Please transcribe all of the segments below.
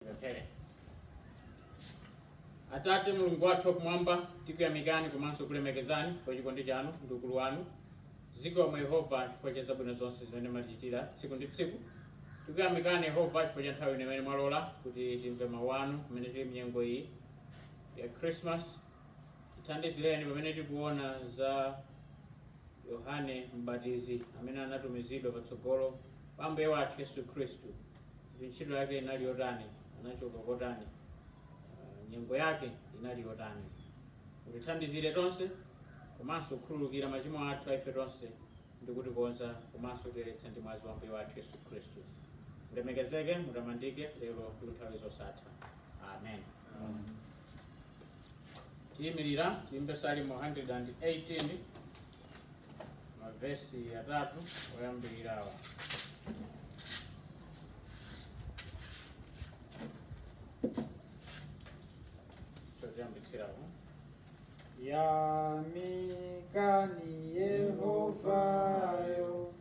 Pemphere. Atate Mulungu wathu wakumwamba, tikuyamikani komanso kulemekezani chifukwa chikondi chanu ndi ukulu wanu. Zikomo Yehova chifukwa cha zabwino zonse zimene mumatichitira tsiku ndi tsiku. Tikuyamikani Yehova chifukwa cha nthawi imene mwalola kuti timve mawu anu pamene tili mnyengo iyi ya Christmas. Tithandizireni pamene tikuona za Yohane Mbatizi amene anatumizidwa patsogolo pa Ambuye wathu Yesu Khristu. kuti ntchito yake inali yotani anachoka kotani ah, nyengo yake inali yotani mutithandizire tonse komanso kukhululukira machimo athu aife tonse ndi kutikonza komanso kutiyeretsa ndi mwazi wa ambuye wathu yesu khristu mulemekezeke mutamandike lero ndi nthawi zosatha amen tiyimirira tiyimbe salimo 118 mavesi atatu oyambirirawa choyambitsirapo yamikani yehova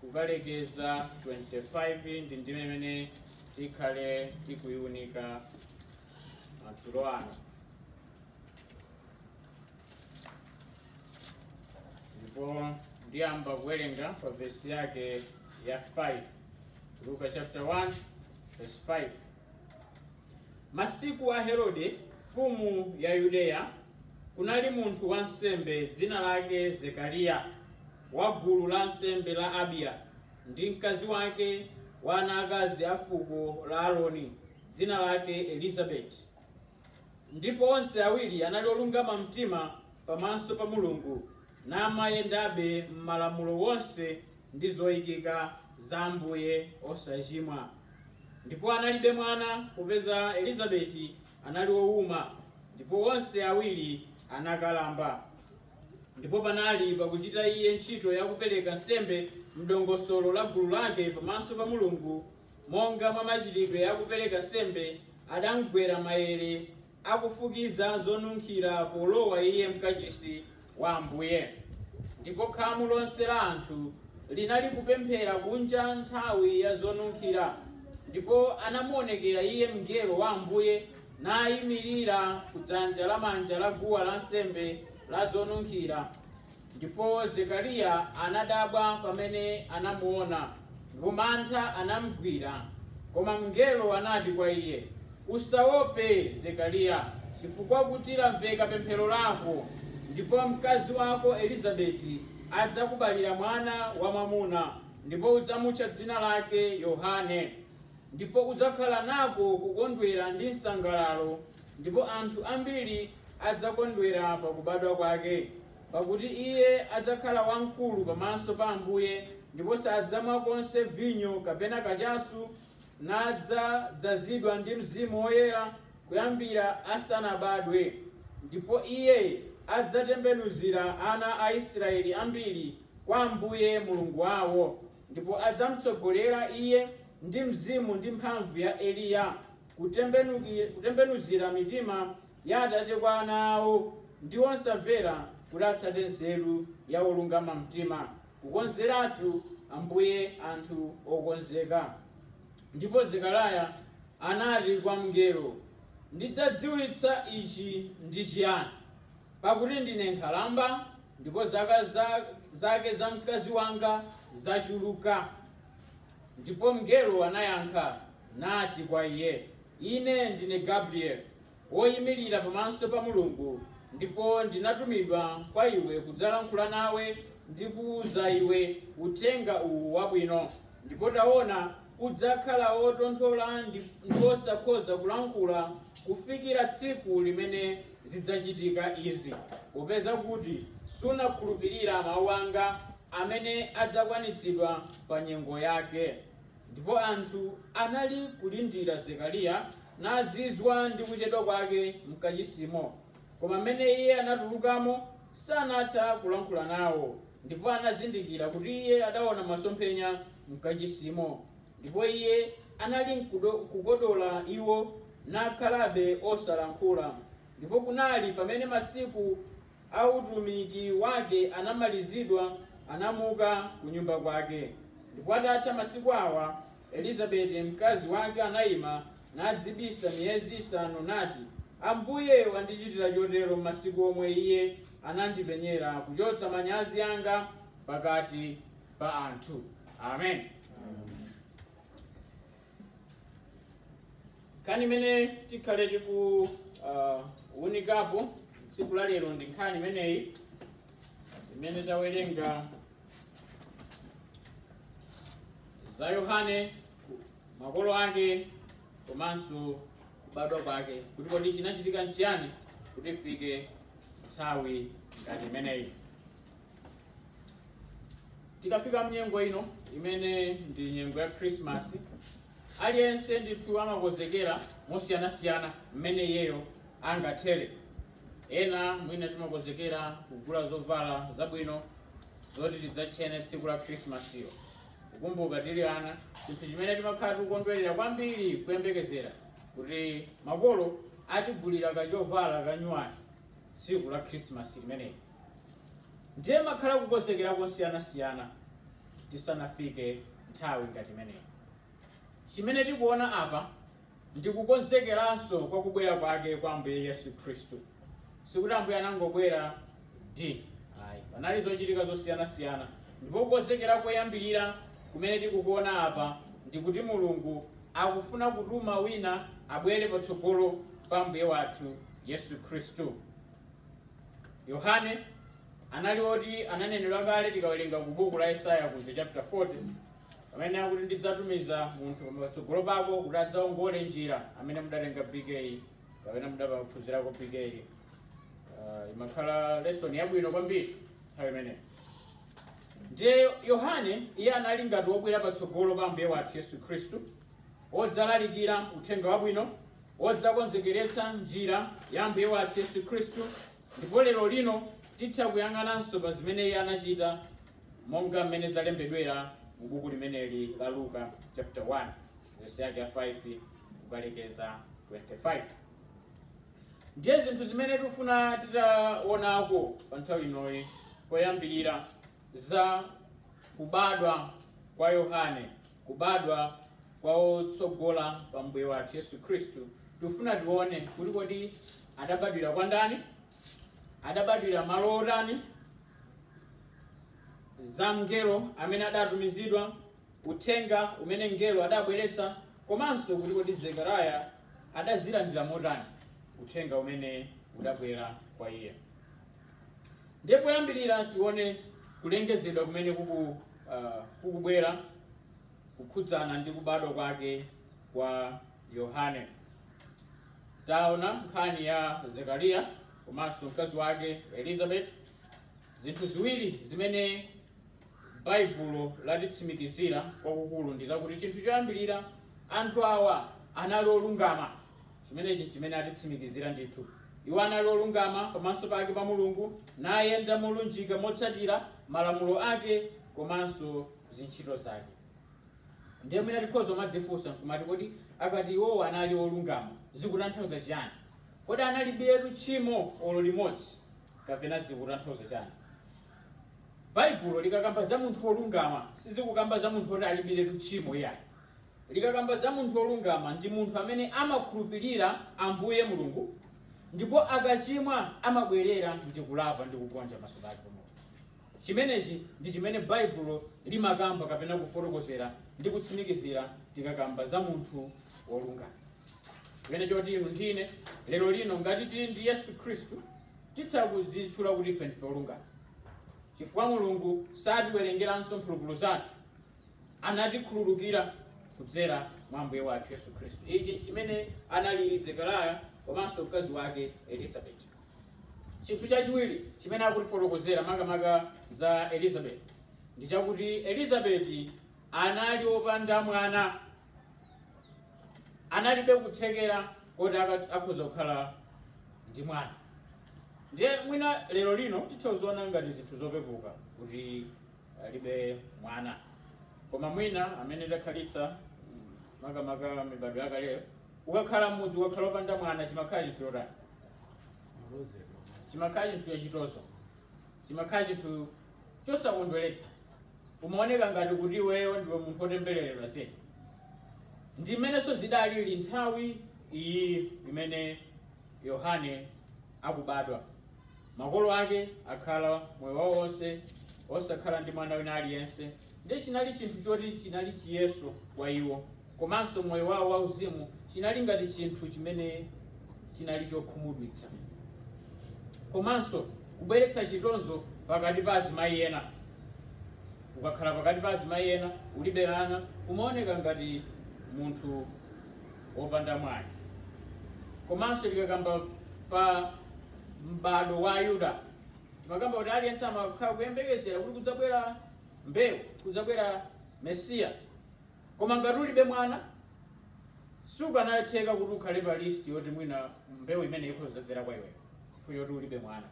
kukalekeza 25 ndi ndime imene tikhale tikuiunika madzulo ano ndipo ndiyamba kuwerenga pa vesi yake ya 5 luka chapter 1 verse 5 masiku a herode mfumu ya yudeya kunali munthu wansembe dzina lake zekariya wa gulu la ansembe la Abiya, ndi mkazi wake wa ana akazi a fuko la Aroni, dzina lake Elizabeti. Ndipo onse awiri anali olungama mtima pamaso pa Mulungu, namayendabe m'malamulo onse ndi zoikika za Ambuye osachimwa. Ndipo analibe mwana, popeza Elizabeti anali wouma, ndipo onse awiri anakalamba. Ndipo panali, pakuchita iye ntchito ya kupereka nsembe m'dongosolo la gulu lake pamaso pa Mulungu, monga mwa machitidwe a kupereka nsembe, adamgwera maere akufukiza zonunkhira polowa iye m'Kachisi wa Ambuye. Ndipo khamu lonse la anthu linalikupemphera kunja nthawi ya zonunkhira, ndipo anamuonekera iye mngelo wa Ambuye, naimirira ku dzanja lamanja la guwa lansembe la zonunkhira. Ndipo Zekariya anadabwa pamene anamuona, ndipo mantha anamugwira. Koma mngelo anati kwa iye, Usaope, Zekariya, chifukwa kuti lamveka pemphero lako, ndipo mkazi wako Elizabeti adzakubalira mwana wamwamuna, ndipo udzamutcha dzina lake Yohane. Ndipo udzakhala nako kukondwera ndi msangalalo, ndipo anthu ambiri adzakondwera pa kubadwa kwake, pakuti iye adzakhala wamkulu pamaso pa Ambuye, ndipo sadzamwa konse vinyo kapena kachasu, nadzadzazidwa ndi Mzimu Woyera kuyambira asanabadwe, ndipo iye adzatembenuzira ana a Israeli ambiri kwa Ambuye Mulungu wawo. Ndipo adzamtsogolera iye ndi mzimu ndi mphamvu ya Eliya, kutembenuzira mitima ya atate kwa ana awo, ndi wosamvera kuti atsate nzeru ya olungama mtima, kukonzeratu Ambuye anthu okonzeka. Ndipo Zekariya anati kwa mngelo, Ndidzadziwitsa ichi ndi chiyani? Pakuti ndine nkhalamba, Ndipo zaka zake za mkazi wanga zachuluka. Ndipo mngelo anayankha nati kwa iye, Ine ndine Gabrieli, woyimirira pamaso pa Mulungu, ndipo ndinatumidwa kwa iwe kudzalankhula nawe ndi kuwuza iwe uthenga uwu wabwino. Ndipo taona, udzakhala wotonthola ndi wosakhoza kulankhula kufikira tsiku limene zidzachitika izi, popeza kuti sunakhulupirira mawu anga amene adzakwanitsidwa pa nyengo yake. Ndipo anthu anali kulindira Zekariya nazizwa ndi kuchedwa kwake m'kachisimo. Koma mmene iye anatulukamo, sanatha kulankhula nawo, ndipo anazindikira kuti iye adaona masomphenya m'kachisimo, ndipo iye anali kukodola iwo, nakhalabe osalankhula. Ndipo kunali, pamene masiku a utumiki wake anamalizidwa, anamuka kunyumba kwake. Ndipo atatha masiku awa, Elizabeti mkazi wake anaima nadzibisa miyezi isanu, nati, Ambuye wandichitira chotero m'masiku omwe iye anandipenyera, kuchotsa manyazi anga pakati pa anthu. Amen. nkhani imene tikhale tikuunikapo uh, tsiku la lero ndi nkhani imeneyi imene tawerenga za yohane makolo ake komanso kubadwa kwake kuti kodi chinachitika nchiyani kuti ifike nthawi ngati imeneyi tikafika mnyengo ino imene ndi nyengo ya khrisimasi aliyense ndithu amakonzekera mosiyanasiyana mmene iyeyo angathere ena mwina timakonzekera kugula zovala zabwino zoti tidzatchene tsiku la khrisimasiyo kukumbuka tili ana chinthu chimene timakhala tikukondwerera kwambiri kuyembekezera kuti makolo atigulira kachovala kanyuwani tsiku la khrisimasi limeneli ndiye kumakhala kukonzekera kosiyanasiyana tisanafike nthawi ngati imeneyi chimene tikuona apa ndi kukonzekeranso kwa kubwera kwake kwa ambuye yesu khristu sikuti ambuye anangobweradi ayi panali zochitika zosiyanasiyana ndipo kukonzekera koyambirira kumene tikukuona apa ndi kuti mulungu akufuna kutuma wina abwere patsogolo pa ambuye wathu yesu khristu yohane anali oti ananenedwa kale tikawerenga ku buku la yesaya kuja chapter 40 Pamene akuti ndidzatumiza munthu patsogolo pako kuti adzaongole njira amene mudatenga BK kapena mudaphunzirako BK uh, imakhala lesson yabwino kwambiri nthawi imeneyi ndiye yohane iye anali ngati wobwera patsogolo pa ambuye wathu yesu khristu wodzalalikira uthenga wabwino wodzakonzekeretsa njira ya ambuye wathu yesu khristu Ndipo lerolino titha kuyang'ananso pa zimene iye anachita monga mmene zalembedwera mu buku limeneli la Luka chapter 1 vesi yake ya 5 kukalekeza 25. Ndiye zinthu zimene tikufuna titaonako pa nthawi inoyi koyambirira za kubadwa kwa Yohane kubadwa kwa otsogola pa mbuye wathu yesu khristu tikufuna tione kuti kodi adabadwira kwa ndani adabadwira malo otani za mngelo amene adatumizidwa uthenga umene mngelo adabweretsa komanso kuti kodi zekariya adazilandira motani uthenga umene udabwera kwa iye ndiye poyambirira tione kulengezedwa kumene kuku uh, kukubwera kukhudzana ndi kubadwa kwake kwa yohane taona nkhani ya zekariya komanso mkazi wake elizabeth zinthu ziwiri zimene baibulo latitsimikizira kwakukulu ndi zakuti chinthu choyambirira anthu awa anali olungama Chimenechi nchimene atitsimikizira ndithu. Iwo anali olungama pamaso pake pa Mulungu, nayenda molunjika motsatira malamulo ake komanso zintchito zake. Ndiye mwina tikhoza kumadzifunsa nkumati, kodi akati iwowo anali olungama zikutanthauza chiyani? Kodi analibiretu tchimo olo limodzi kapena zikutanthauza chani? Baibulo likakamba za munthu wolungama sizikukamba za munthu woti alibiretu tchimo iyayi. Likakamba za munthu wolungama, ndi munthu amene amakhulupirira Ambuye Mulungu, ndipo akachimwa amabwerera ndi kulapa ndi kugonja maso pake pa Mulungu. Chimenechi ndi chimene Baibulo limakamba kapena kufotokozera ndi kutsimikizira tikakamba za munthu wolungama. Chimene choti inu ndi ine lero lino ngati tili ndi Yesu Khristu titha kudzitchula kuti ife ndife olungama chifukwa Mulungu satiwerengeranso mphulupulu zathu anatikhululukira kudzera mwa Ambuye wathu Yesu Khristu. Ichi nchimene anali Zekariya komanso mkazi wake Elizabeti. Chinthu chachiwiri chimene akutifotokozera makamaka za Elizabeti ndi chakuti Elizabeti anali wopanda mwana, analibe kuthekera koti aka- akhoza kukhala ndi mwana. Ndiye mwina lero lino titha kuziona ngati zinthu zopepuka kuti alibe mwana koma mwina amene takhalitsa makamaka mibado yakaleyo ukakhala m'mudzi ukakhala opanda mwana chimakhala chinthu chotani chimakhala chinthu chachitonzo chimakhala chinthu chosakondweretsa umaoneka ngati kuti iweyo ndiwe munthu otembereredwa zedi ndi mmenenso zidalili nthawi iyi imene yohane akubadwa Makolo ake akhala moyo wawo wonse osakhala ndi mwana wina aliyense, ndiye chinali chinthu choti chinali chiyeso kwa iwo, komanso moyo wawo wauzimu chinali ngati chinthu chimene chinali chokhumudwitsa, komanso kubweretsa chitonzo pakati pa azimayi ena. Ukakhala pakati pa azimayi ena ulibe ana, umaoneka ngati munthu wopanda mwayi. Komanso tikakamba pa m'bado wa Ayuda, timakamba kuti aliyense amakhala kuyembekezera kuti kudzabwera mbewu, kudzabwera Mesiya. Koma ngati ulibe mwana, sizikanatheka kuti ukhale pa listi yoti mwina mbewu imene ikhoza kudzadzera kwa iweyo, chifukwa choti ulibe mwana.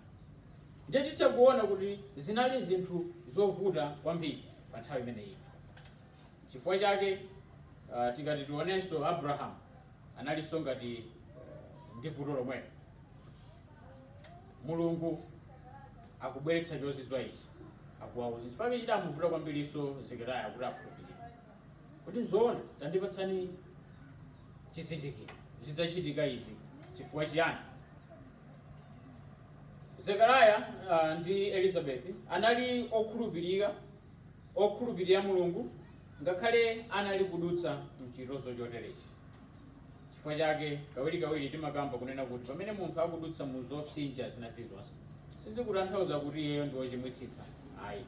Ndiye titha kuona kuti zinali zinthu zovuta kwambiri pa nthawi imeneyi. Chifukwa chake uh, tikati tionenso Abraham analinso ngati uh, ndi vuto lomwelo. Mulungu akubweretsa chozizwa ichi akuwauza chifukwa chake chidamuvuta kwambirinso Zekaria kuti akhulupirire. Kuti nzoona tandipatsani chizindikiro zidzachitika izi chifukwa chiyani? Zekaria uh, ndi Elizabeth anali okhulupirira okhulupirira Mulungu ngakhale anali kudutsa m'chitonzo choterechi. Chifukwa chake, kawirikawiri timakamba kunena kuti pamene munthu akudutsa mu zopsinja zina zilizonse, sizikutanthauza kuti iyeyo ndi wochimwitsitsa ayi.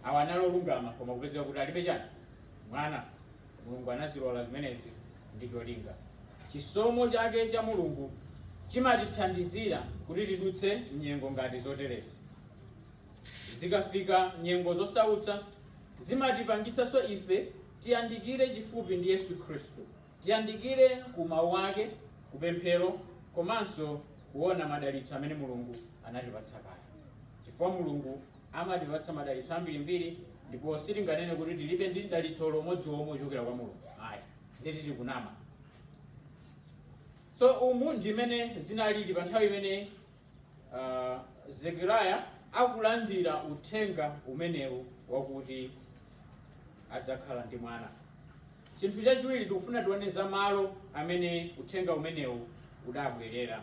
Awa anali olungama, koma kupezeka kuti alibe chani? Mwana. Mulungu anazilola zimenezi ndi cholinga. Chisomo chake cha Mulungu chimatithandizira kuti tidutse m'nyengo ngati zoterezi. Zikafika nyengo zosautsa, zimatipangitsanso ife tiyandikire chifupi ndi Yesu Khristu, tiyandikire ku mawu ake, ku pemphero komanso kuona madalitso amene Mulungu anatipatsa kale, chifukwa Mulungu amatipatsa madalitso ambirimbiri ndipo sitinganene kuti tilibe ndi dalitso olo umodzi omwe wochokera kwa Mulungu ayi, ndeti tikunama. So umu ndi mmene zinalili pa nthawi imene Zekariya akulandira uthenga umenewu wakuti adzakhala ndi mwana. Chinthu chachiwiri tikufuna tione za malo amene uthenga umenewu udabwerera.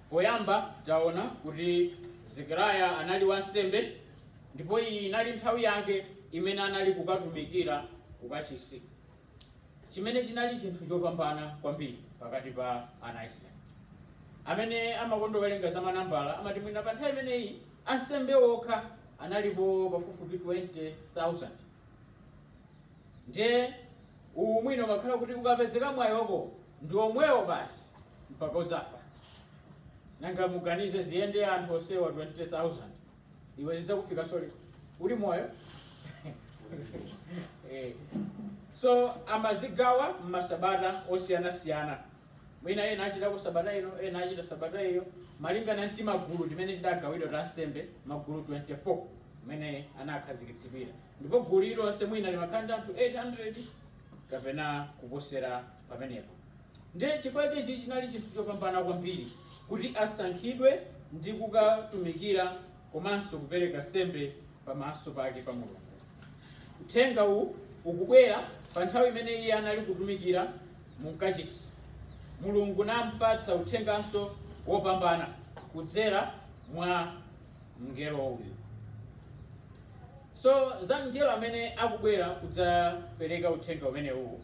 Poyamba taona kuti Zekariya anali wansembe ndipo iyi inali nthawi yake imene anali kukatumikira kukachisi. chimene chinali chinthu chopambana kwambiri pakati pa ana a Israeli. Amene amakonda kuwerenga za manambala amati mwina pa nthawi imeneyi ansembe okha analipo pafupifupi 20,000 ndiye uwu mwina umakhala kuti ukapezeka mwayi wako ndi omwewo basi mpaka udzafa nanga muganize ziyende anthu onsewa 20000 iwe zidzakufika soli uli moyo so amazigawa mmasabata osiyanasiyana mwina ena achitako sabata ino ena achita sabata iyo malingana ndi timagulu timene tidagawidwa ta ansembe magulu 24 mmene anakhazikitsidwira ndipo gulu lilonse mwina limakhala ndi anthu 800 kapena kuposera pamenepo. Ndiye chifukwa chake ichi chinali chinthu chopambana kwambiri kuti asankhidwe ndi kukatumikira komanso kupereka nsembe pamaso pake pa mulungu uthenga uwu ukubwera pa nthawi imene iye anali kutumikira mu kachisi mulungu nampatsa uthenganso wopambana kudzera mwa mngelo uyu So, za mngelo amene akubwera kudzapereka Uthenga umenewu,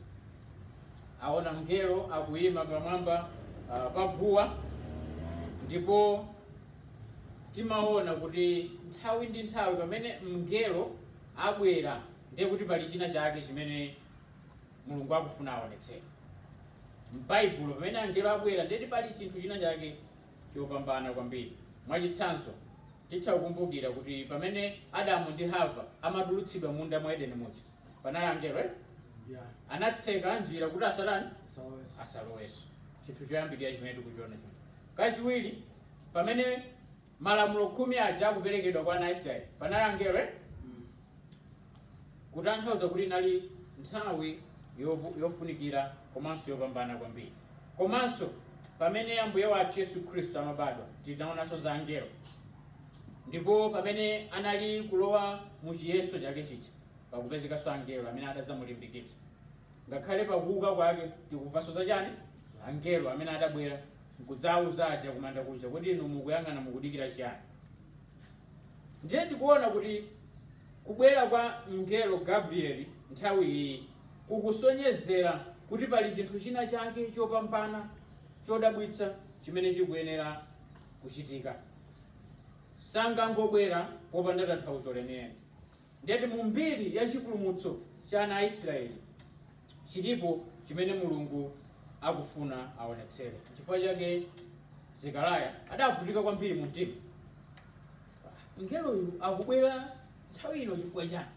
aona mngelo akuyima pamwamba pa guwa, ndipo timaona kuti nthawi ndi nthawi pamene mngelo abwera, ndiye kuti pali china chake chimene Mulungu akufuna aonetsere. M'Baibulo pamene angelo abwera, ndiye kuti pali chinthu china chake chopambana kwambiri. Mwachitsanzo, titha kukumbukira kuti pamene Adamu ndi Hava amatulutsidwa m'munda mwa Edeni muja, panali angelo ena? Yeah. Anatseka njira kuti asatani? Asaloweso chinthu choyambirira chimene tikuchiona chino kachiwiri pamene malamulo khumi aja akuperekedwa kwa ana a israeli panali angelo eh? kutanthauza kuti inali nthawi yovu- yofunikira komanso yopambana kwambiri komanso pamene ambuye wathu yesu khristu amabadwa tinaonanso za angelo ndipo pamene anali kulowa mu chiyeso chake chija pakupezekanso angelo amene adadzamulimbikitsa ngakhale pakuuka kwake tikuvanso za chani angelo amene adabwera nkudzauza aja kumanda kuja kuti inu mukuyang'ana mukudikira chiyani Ndiye tikuona kuti kubwera kwa mngelo Gabrieli nthawi iyi kukusonyezera kuti pali chinthu china chake chopambana chodabwitsa chimene chikuyenera kuchitika. Sangangobwera popanda tanthauzo lenileni. Ndiyeti mu mbiri ya chipulumutso cha ana a Israeli chilipo chimene Mulungu akufuna aonetsere. Chifukwa chake Zekaraya adavutika kwambiri mu mtima. Mngeloyu akubwera nthawi ino chifukwa chani?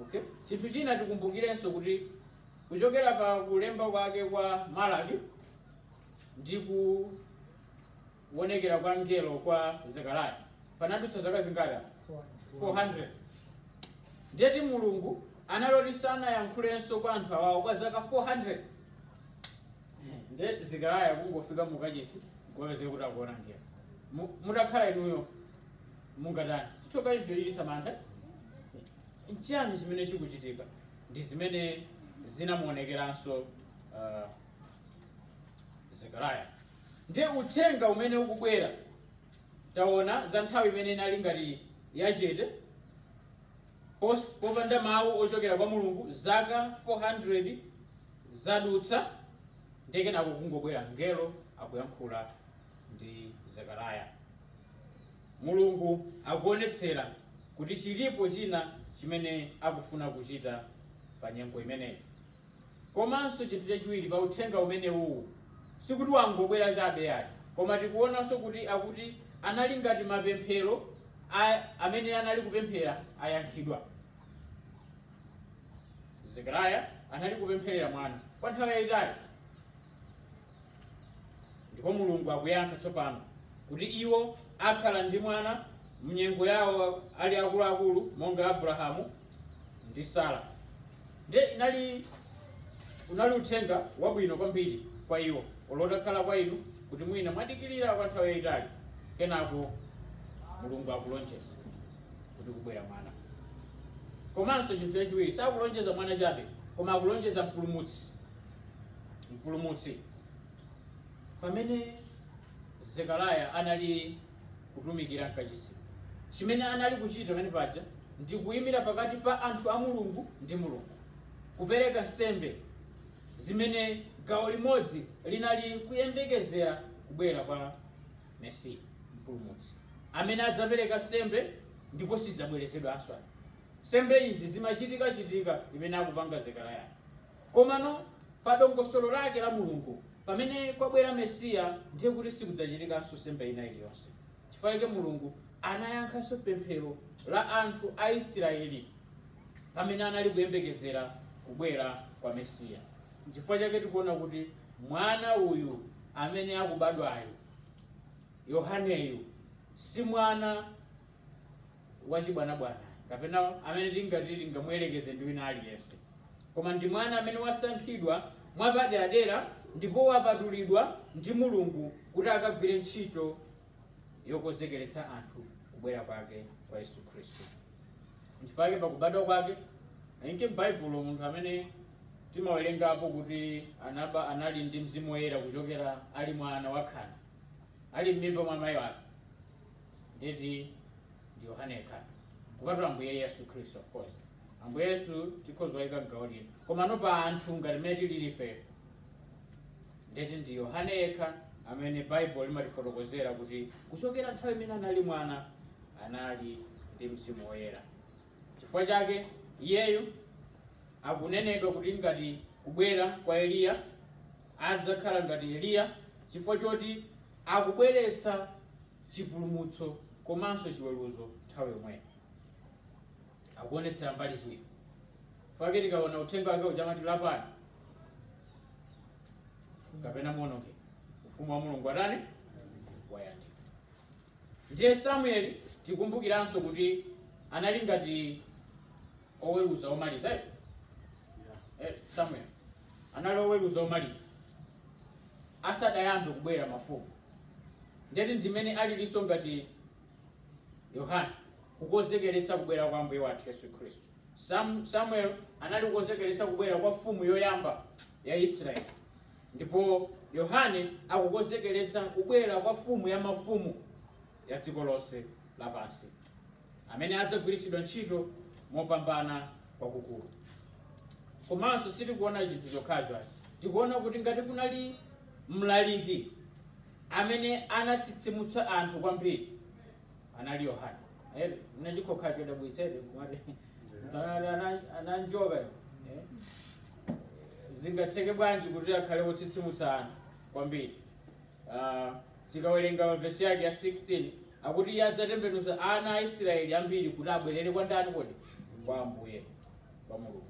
Okay? Chinthu china tikumbukirenso kuti kuchokera pa kulemba kwake kwa Malaki ndi ku kuonekera kwa mngelo kwa zekaraya panadutsa zaka zingati 400 ndiyeti mulungu anali oti sanayankhulenso kwa anthu awawo kwa zaka 400 nde zekaraya kungofika mukachisi kupeza kuti akuona mngelo Mu- mutakhala inuyo mungatani chithoka chinthu chochititsa mantha nchiyani chimene chikuchitika ndi zimene zinamuonekeranso uh, zekaraya Ndiye Uthenga umene ukubwera. Taona za nthawi imene inali ngati yachete, pos, popanda mawu ochokera kwa Mulungu, zaka 400 zadutsa, ndiye kenako kungobwera mngelo akuyankhula ndi Zekaraya. Mulungu akuonetsera kuti chiripo china chimene akufuna kuchita pa nyengo imeneyi. Komanso chinthu chachiwiri pa uthenga umenewuwu, sikuti wangobwera chabe yayi, koma tikuonanso kuti akuti anali ngati mapemphero a amene anali kupemphera ayankhidwa. Zekaraya anali kupempherera mwana kwa nthawi yayitali. ndipo mulungu akuyankha tsopano kuti iwo akhala ndi mwana mnyengo yawo ali akuluakulu monga abrahamu ndi sara ndiye unali uthenga wabwino kwambiri kwa iwo olo atakhala kwa inu kuti mwina mwadikirira kwa nthawi yayitali kenako mulungu akulonjeza kuti kubwera mwana komanso chinthu chachiwiri sakulonjeza mwana chabe koma akulonjeza mpulumutsi mpulumutsi pamene zekaraya anali kutumikira mkachisi chimene anali kuchita pamene paja ndi kuyimira pakati pa anthu a mulungu ndi mulungu kupereka nsembe zimene gawo limodzi linali kuyembekezera kubwera kwa mesiya mpulumutsi amene adzapereka nsembe ndipo sidzabwerezedwanso nsembe izi zimachitikachitika imene akupanga zekaraya Komano, pa dongosolo lake la Mulungu, pamene kwabwera Mesiya, ndiye kuti sikudzachitikanso nsembe ina iliyonse. Chifukwa chake Mulungu anayankhanso pemphero la anthu a Isiraeli pamene anali kuyembekezera kubwera kwa Mesiya. N'chifukwa chake tikuona kuti mwana uyu amene akubadwayu, Yohaneyu, si mwana wachibwanabwana kapena amene tingati tingamuyerekeze ndi wina aliyense koma ndi mwana amene wasankhidwa mwapaderadera ndipo wapatulidwa ndi mulungu kuti akagwire ntchito yokonzekeretsa anthu kubwera kwake kwa yesu khristu nchifukwa chake pakubadwa kwake ayinke m'baibulo munthu amene timawerengapo kuti anali ndi mzimu woyera kuchokera ali mwana wakhanda ali m'mimba mwa mayi wake ndiye kuti ndi Yohane yekha kupatula Ambuye Yesu Khristu of course Ambuye Yesu tikhoza kuwayika m'gawo lino komano pa anthu ngati mmene tilili ife ndiye kuti ndi Yohane yekha amene Baibulo limatifotokozera kuti kuchokera nthawi imene anali mwana anali ndi mzimu woyera chifukwa chake iyeyo akunenedwa kuti ngati kubwera kwa Eliya adzakhala ngati Eliya chifukwa choti akubweretsa chipulumutso komanso chiweruzo nthawi yomweyo. Akuonetsera mbali ziwiri. Chifukwa chake tikaona uthenga wake uja amati lapani kapena muonongeke. Ufumu wa Mulungu watani? Wayandika. Ndiye Samueli tikumbukiranso kuti anali ngati oweruza omaliza eh? eh, samuel anali oweruza omaliza asadayambe kubwera mafumu ndeti ndimene alilinso ngati yohane kukonzekeretsa kubwera kwa ambuye wathu yesu khristu Sam, samuel anali kukonzekeretsa kubwera kwa mfumu yoyamba ya israeli ndipo yohane akukonzekeretsa kubwera kwa mfumu ya mafumu ya dziko lonse lapansi, amene adzagwiritsidwa ntchito mopambana kwakukulu. Komanso sitikuona chinthu chokhacho ayi, tikuona kuti ngati kunali mlaliki amene anatsitsimutsa anthu kwambiri anali Yohane. Eh, ndi chokhacho chodabwitsabe kumati ana- ana- ananjoka eh? zingatheke bwanji kuti akhale wotsitsimutsa anthu kwambiri Ah, tikawerenga vesi yake ya 16 akuti iye adzatembenuza ana a israeli ambiri kuti abwerere kwa ndani kodi kwa ambuye kwa mulungu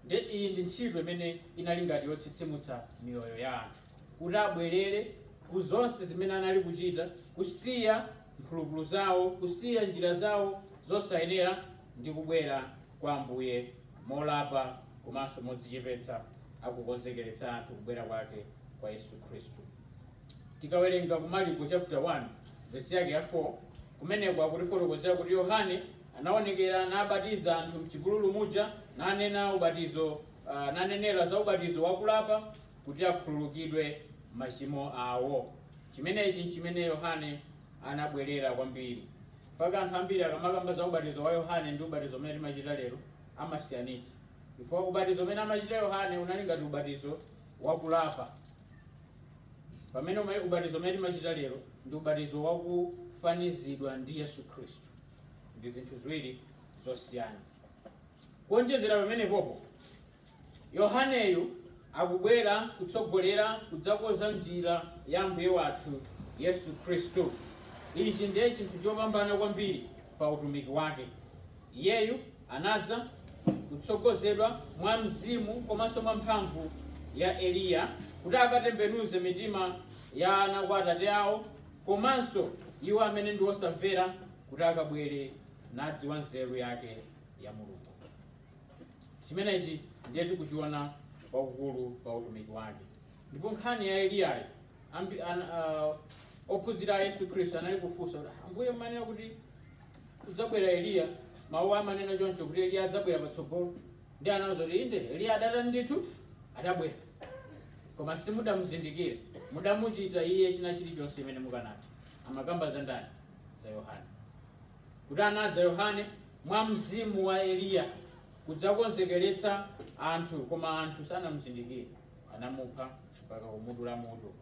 nde iyi ndi ntchito imene inali ngati yotsitsimutsa miyoyo ya anthu kuti abwerere ku zonse zimene anali kuchita kusiya mphulupulu zawo kusiya njira zawo zosayenera ndi kubwera kwa Ambuye molapa komanso modzichepetsa akukonzekeretsa anthu kubwera kwake kwa Yesu Khristu. Tikawerenga ku Marko chapter 1 vesi yake ya 4 kumeneko akutifotokozera kuti Yohane anaonekera nabatiza anthu mchipululu muja nanena ubatizo uh, nanenera za ubatizo wakulapa kuti akhululukidwe machimo awo. Chimenechi ndi chimene Yohane anabwerera kwambiri chifukwa anthu ambiri akamakamba za ubatizo wa yohane ndi ubatizo umene timachita lero amasiyanitsa chifukwa ubatizo umene amachita yohane unali ngati ubatizo wakulapa pamene ume- ubatizo umene timachita lero ndi ubatizo wakufanizidwa ndi yesu khristu ndi zinthu ziwiri zosiyana kuonjezera pamenepopo Yohaneyu akubwera kutsogolera kudzakoza njira ya Ambuye wathu Yesu Khristu. Ichi ndiye chinthu chopambana kwambiri pa utumiki wake. Iyeyu anadza kutsogozedwa mwa mzimu komanso mwa mphamvu ya Eliya kuti akatembenuze mitima ya ana kwa atate awo komanso iwo amene ndi osamvera kuti akabwere nadziwa nzeru yake ya Mulungu. chimenechi ndiye tikuchiona kwakukulu pa utumiki wake ndipo nkhani ya eliyayi ambi- an- ah, ophunzira a yesu khristu anali kufunsa kuti "Ah, ambuye mmanena kuti kudzabwera eliya mawu amanena choncho kuti eliya adzabwera patsogolo nde anawauza kuti inde eliya adata ndithu adabwera koma simudamuzindikire mudamuchita iye china chilichonse imene mukanati amakamba za ndani za yohane kuti anadza Yohane mwa mzimu wa Eliya kudzakonzekeretsa anthu, koma anthu sanamuzindikire, anamupha mpaka kumudula mutu.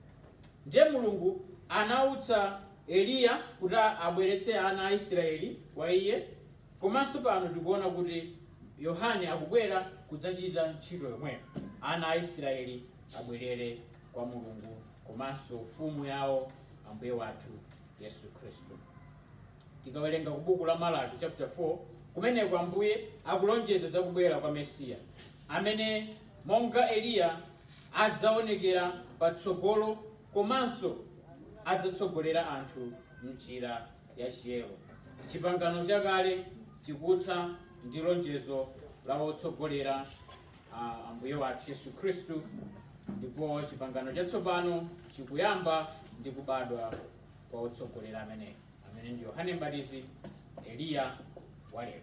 Ndiye Mulungu anautsa Eliya kuti abweretse ana a Israeli kwa iye, komanso pano tikuona kuti Yohane akubwera kudzachita ntchito yomweyo. Ana a Israeli abwerere kwa Mulungu komanso mfumu yawo Ambuye wathu Yesu Khristu. Tikawerenga ku buku la Malaki chapter 4, kumeneko Ambuye akulonjeza za kubwera kwa Mesiya, amene monga Eliya adzaonekera patsogolo komanso adzatsogolera anthu m'njira ya chiyero. Chipangano chakale chikutha ndi lonjezo la wotsogolera uh, Ambuye wathu Yesu Khristu, ndipo chipangano chatsopano chikuyamba ndi kubadwa kwa otsogolera ameneyu amene ndi yohane mbatizi eliya walero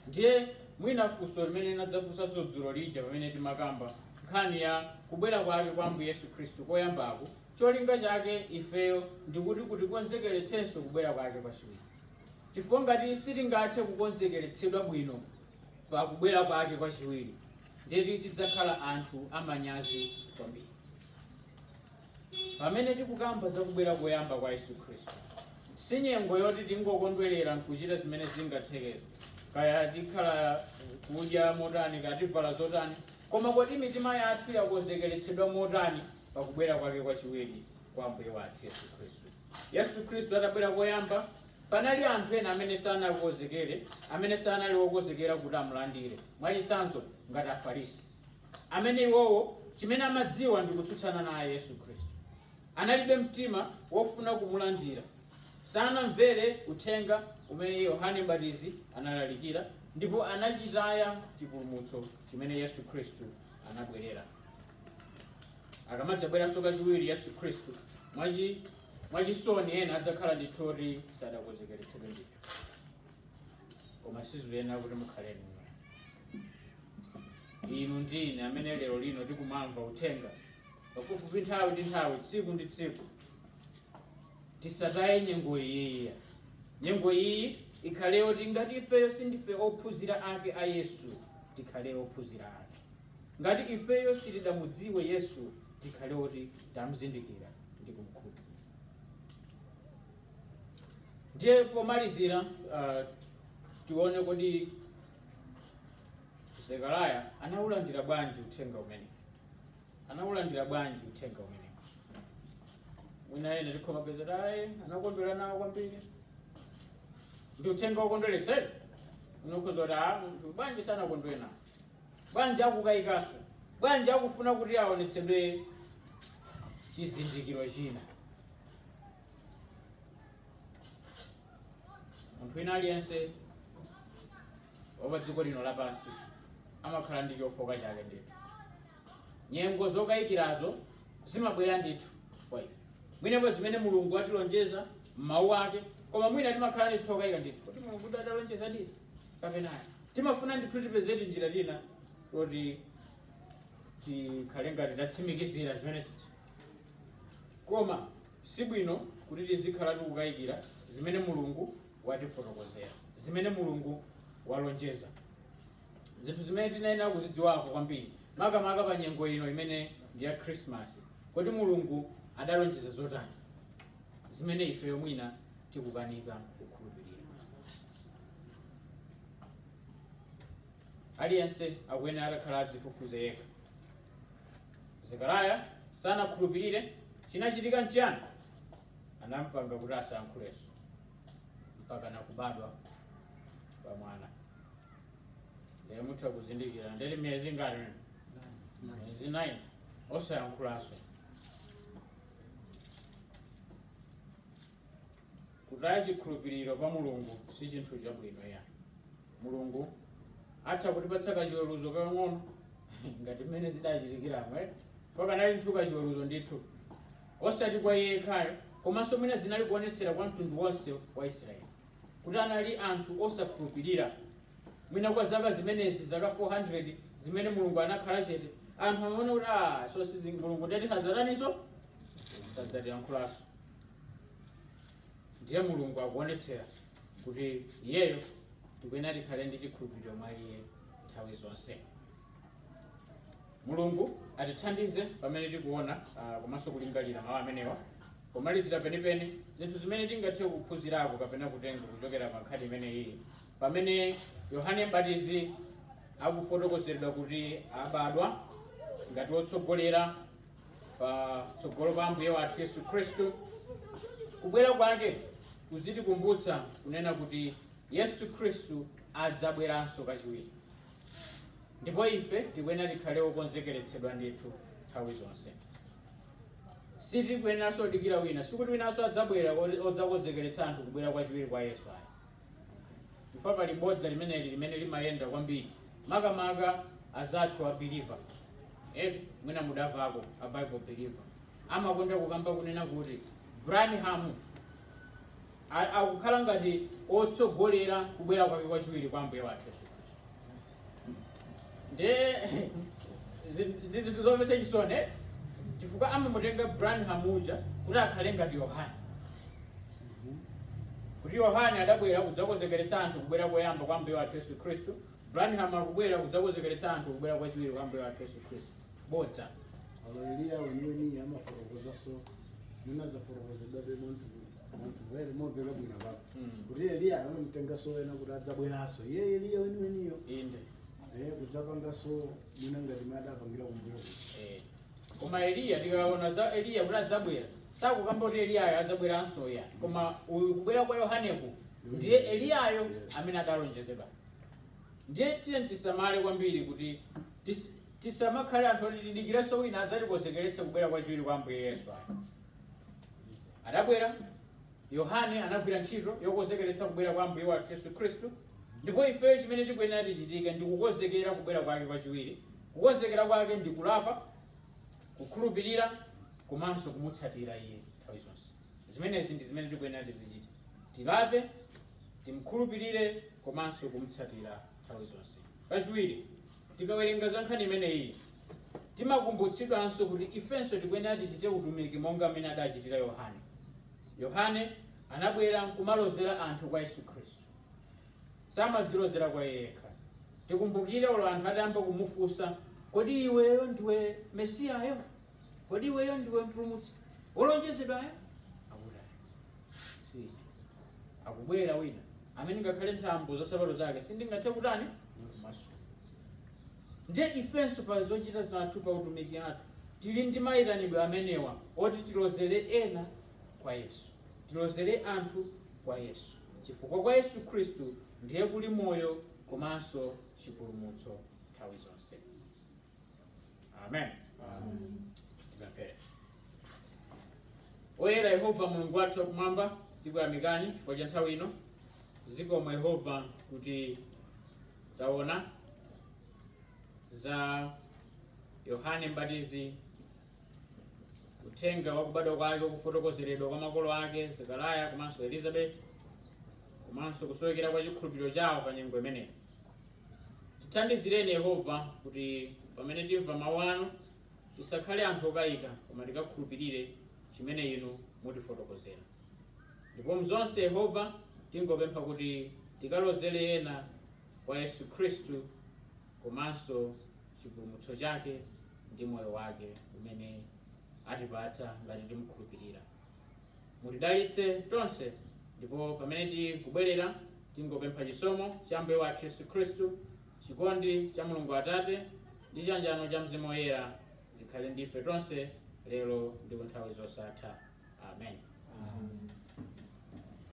ndiye mwina funso limene tinadzafunsanso dzulo lija pamene timakamba nkhani ya kubwera kwake kwa ambuye yesu khristu koyambako cholinga chake ifeyo ndikuti kutikonzekeretsenso kubwera kwake kwachiwiri chifukwa ngati sitingathe kukonzekeretsedwa bwino pa kubwera kwake kwachiwiri ndeti tidzakhala anthu amanyazi kwambiri Pamene tikukamba za kubwera koyamba kwa Yesu Khristu, si nyengo yoti tingokondwerera nkuchita zimene zingathekezo, kaya tikhala kudya motani, kaya tivala zotani, koma kodi mitima yathu yakonzekeretsedwa motani pa kubwera kwake kwachiwiri kwa Ambuye wathu Yesu Khristu. Yesu Khristu atabwera koyamba, panali anthu ena amene sanakonzekere, amene sanali okonzekera kuti amulandire. Mwachitsanzo, ngati Afarisi. amene iwowo chimene amadziwa ndi kutsutsana naye Yesu Khristu. Analibe mtima wofuna kumulandira, sanamvere uthenga umene Yohane Mbatizi analalikira ndipo anachitaya chipulumutso chimene Yesu Khristu anabwerera. Akamadzabweranso kachiwiri Yesu Khristu mwachi- mwachisoni ena adzakhala ndithu oti sadakonzekeretsedwe ndithu. koma sizuyenera kuti mukhale inuyo inu ndi ine amene lero lino tikumamva uthenga pafupifupi nthawi ndi nthawi tsiku ndi tsiku tisataye nyengo iyiya nyengo iyi ikhale yoti ngati ifeyo sindife ophunzira ake a yesu tikhale ophunzira ake ngati ifeyo sitidamudziwe yesu tikhale oti tamzindikira ndi kumkhulupirira ndiye pomalizira uh, tione kodi zekariya anaulandira bwanji uthenga umene anaulandira bwanji uthenga umene mwina enafe tikhoza kuyesa anakondwera nawo kwambiri ndi uthenga wokondweretsera unkhuza kuti bwanji sanakondwere nawo bwanji akukayikanso bwanji akufuna kuti aonetsedwe chizindikiro china munthu wina aliyense wapa dziko lino lapansi amakhala ndi chofooka chake ndithu nyengo zokayikirazo zimabwera ndithu kwa ife mwinapo zimene mulungu watilonjeza m'mawu ake koma mwina timakhala ndithu okayika ndithu kuti mulungu atalonjeza izi kapena timafuna ndithu tipeze njira ina yoti tikhale ngati tatsimikizira zimene zija Koma si bwino kuti tizikhala tikukayikira zimene Mulungu watifotokozera, zimene Mulungu walonjeza. Zinthu zimene tiyenera kuzidziwako kwambiri, makamaka pa nyengo ino imene ndi ya Khrisimasi. Kodi Mulungu adalonjeza zotani zimene ifeyo mwina tikukanika kukhulupirira? Aliyense akuyenera atakhala adzifufuze yekha. Zekariya sanakhulupirire. Chinachitika nchiyani? Anampanga kuti asayankhulenso mpaka kubadwa kwa mwana. Ndiye mutha kuzindikira ndi miyezi ingati? miyezi 9 osayankhulanso. kutaya chikhulupiriro pa mulungu si chinthu chabwino ayi mulungu atha kutipatsa kachiweruzo kang'ono ngati mmene zidachitikiramo eh? aka kanali ndithu kachiweruzo ndithu osati kwa iye yekhayo komanso mwina zinali kuonetsera kwa mtundu wonse wa israeli kuti anali anthu osakhulupirira mwina kwa zaka zimenezi zaka 400 zimene mulungu anakhala chete anthu amaona kuti "Ah, basi mulungu ndiye kuti sadzataninso sadzatiyankhulanso ndiye mulungu akuonetsera kuti iyeyo tikuyenera tikhale ndi chikhulupiriro mwa iye nthawi zonse mulungu atithandize pamene tikuona ah, komanso kulingalira mawu amenewa pomalizira penipeni zinthu zimene tingathe kuphunzirako kapena kutenga kuchokera pa nkhani imeneyi pamene yohane mbatizi akufotokozedwa kuti abadwa ngati wotsogolera patsogolo pa ambuye wathu yesu khristu kubwera kwake kuzitikumbutsa kunena kuti yesu khristu adzabweranso kachiwiri ndipo ife tikuyenera tikhale okonzekeretsedwa ndithu nthawi zonse sitikuyeneranso dikira wina sikuti winanso adzabwera odzakonzekeretsa anthu kubwera kwachiwiri kwa yesu ayi chifukwa pali bodza limeneli limene limayenda kwambiri makamaka azathu a believer eti mwina mudamvako a bible believer amakonda kukamba kunena kuti branham a- akukhala ngati otsogolera kubwera kwake kwachiwiri kwa ambuye wathu yesu ndiye zi- ndi zinthu zomvetsa chisoni eh? chifukwa amamutenga branham uja kuti akhale ngati yohane kuti yohane adabwera kudzakonzekeretsa anthu kubwera koyamba kwa mbuye wathu yesu khristu branham akubwera kudzakonzekeretsa anthu kubwera kwachiwiri kwa mbuye wathu yesu khristu bodza Eliya weniweni amafotokozaso ninazafotokozedwa bemanthu Very more very good about. Kuti Eliya amamtengaso ena kuti adzabweranso. Iye Eliya weniweniyo. inde Eh kudzapangaso mwina ngati m'mene adapangira kumbuyo. Eh. koma eliya tikaona za eliya kuti adzabwera sakukamba kuti eliyayo adzabweranso ya koma uyu kubwera kwa yohaneku ndiye eliyayo amene adalonjezedwa ndiye tiyeni tisamale kwambiri kuti tis- tisamakhale anthu oti tidikirenso wina adzatikonzekeretse kubwera kwachiwiri kwa ambuye yesu ayi Adabwera, Yohane anagwira ntchito yokonzekeretsa kubwera kwa Ambuye wathu Yesu Khristu, ndipo ifeyo chimene tikuyenera tichitike ndi kukonzekera kubwera kwake kwachiwiri. Kukonzekera kwake ndi kulapa, kukhulupirira komanso kumutsatira iye nthawi zonse. Zimenezi ndi zimene tikuyenera tizichite. Tilape, timkhulupirire komanso kumutsatira nthawi zonse. Kachiwiri, tikawerenga za nkhani imeneyi, Timakumbutsidwanso kuti ifenso tikuyenera tichite utumiki monga mmene adachitira Yohane. Yohane anabwera nkumalozera anthu kwa Yesu Khristu, samadzilozera kwa iye yekha. Tikumbukire olo anthu atayamba kumufunsa, kodi iweyo ndiwe Mesiyayo? Kodi iweyo ndiwe mpulumutsi wolonjezedwayo? Akuti "Ayi, si ine." akubwera wina amene ngakhale nthambo za nsapato zake sindingathe kutani kumasula Ndiye ifenso pa zochita zathu, pa utumiki athu, tili ndi mayitanidwe amenewa oti tilozere ena kwa Yesu. Tilozere anthu kwa Yesu. Chifukwa kwa Yesu Khristu ndiye kuli moyo komanso chipulumutso nthawi zonse. Amen. Tipemphere. Oyera Yehova Mulungu wathu wakumwamba, tikuyamikani chifukwa cha nthawi ino. Zikomo Yehova kuti Taona za Yohane Mbatizi, uthenga wa kubadwa kwake kufotokozeredwa kwa makolo ake Zekariya komanso Elizabeti, komanso kusowekera kwa chikhulupiriro chawo pa nyengo imeneyi. Tithandizireni Yehova kuti pamene timva mawu anu tisakhale anthu okayika, koma tikakhulupirire chimene inu mutifotokozera. Ndipo mzonse Yehova tingopempha kuti tikalozele ena kwa Yesu Khristu komanso chipulumutso chake ndi moyo wake umene atipatsa ngati timukhulupirira. Mutidalitse tonse ndipo pamene tikubwerera tingopempha chisomo cha Ambuye wathu Yesu Khristu, chikondi cha Mulungu Atate ndi chiyanjano cha Mzimu Woyera zikhale ndi ife tonse lero ndi ku nthawi zosatha Amen.